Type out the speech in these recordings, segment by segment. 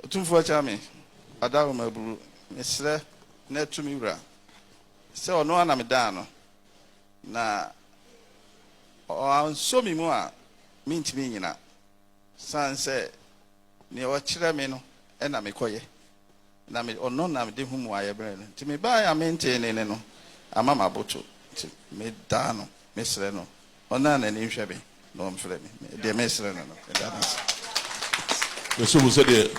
Otumfoɔ Agya me adaworoma aburu, mesrɛ na tu me wura, sɛ ɔno ara na medaa no, na ɔansɔ me mu a mentumi nnyina, sane sɛ nea ɔkyerɛ me no na mekɔyɛ, na me, ɔno na mede hu mmuaeɛ brɛ no, nti mebaeɛ a mentee ne nne no, ama m'aboto, nti medaa no, mesrɛ no Ɔno a n'ani nhwɛ me na ɔmfrɛ me, deɛ mesrɛ no no, meda no ase. Mesom wo sɛdeɛ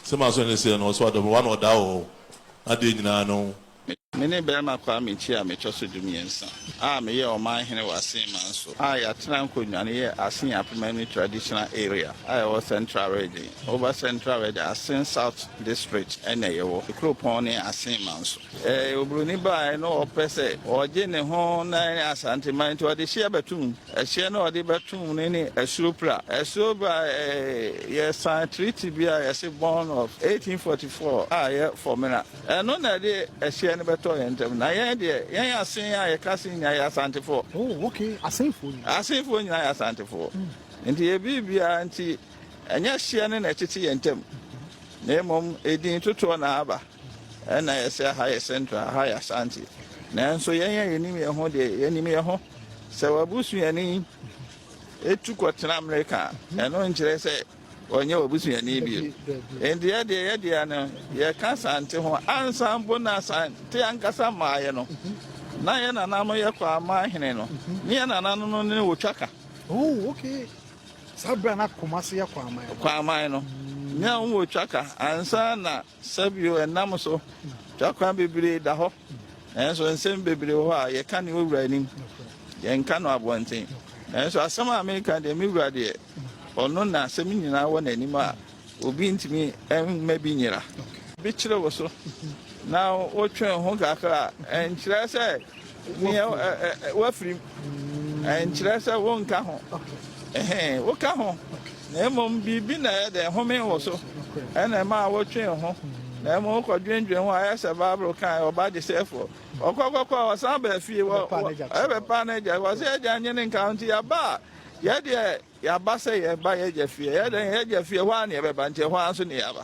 sɛ m'aso ani seɛ no, ɔso adɔ me, w'ano ɔdaa wɔ hɔ adeɛ nyinaa no ho. Me ne barima Kwame Kyia metɔ so dumiɛnsa a meyɛ ɔman hene wɔ Asin manso a yɛatena nkonnwa no yɛ Asin Apemanu Traditional Area a ɛwɔ Central Region, Oba Central Region, Asin South District na yɛwɔ. Kuropɔn no yɛ Asin manso. Ɛyɛ oburoni bae na ɔpɛ sɛ ɔgye ne ho na ɛne Asanteman nti ɔde hyeɛ bɛto mu. Ɛhyeɛ no a ɔde bɛto mu no ne Asuo Pra. Asuo Pra yɛsan treaty bi a yɛse Bond of 1844 a yɛ fɔmena. Ɛno na ɛde ɛhyeɛ no bɛtɔɔ yɛn ntam. Na yɛn deɛ, yɛn Asen a yɛka Asen nyinaa yɛ Asantefoɔ. Oh ok, Asenfoɔ nyinaa. Asenfoɔ nyinaa yɛ Asantefoɔ. Nti yɛ biribiara nti ɛnyɛ hyeɛ no na ɛtete yɛn ntam na mmom edin totoɔ na aba. Ɛna yɛse aha yɛ central aha yɛ Asante nanso yɛn a yɛnim yɛn ho deɛ yɛnim yɛn ho sɛ wabusuani etu kɔtena Amerika ɛno nkyerɛ sɛ ɔnyɛ wabusuani bio enti yɛdeɛ yɛdeɛ no yɛka Asante ho ansa mpo na Asante ankasa mmaeɛ no na yɛn nana no yɛ Kwaaman hene no ne yɛn nana no no ne wɔtwa ka oh okay saa berɛ na Kumase yɛ Kwaaman Kwaaman no ne wɔtwa ka ansa na Sɛ bio ɛnam so, twa kwan bebree da hɔ, nanso nsɛm bebree wɔ hɔ a yɛka ne owura anim, yɛnka no abɔnten. Nanso asɛm a meka deɛ, me wura deɛ, ɔno na asɛm nyinaa wɔ n'anim a obi ntumi mma bi nyera. Bi kyere wo so na wotwe wo ho kakra a, ɛnkyerɛ sɛ Nea woafirim nkyerɛ sɛ wonka ho. Woka ho, na mmom biribi na ɛyɛ dɛ homee wo so na ɛmaa wotwee ho. Na mmom wokɔdwendwen ho a, ayɛ sɛ Bible kae, Ɔba gyesɛefoɔ ɔkɔ kɔkɔ a, ɔsan baa fie bɛpaa n'agya. Ɔse, Agya nnye ne nka ho, nti yɛaba a, yɛ deɛ yɛaba sɛ yɛba yɛagya fie. Ɛyɛ dɛn? Yɛagya fie, ɛhɔ ara na yɛbɛba, nti ɛhɔ ara nso na yɛaba.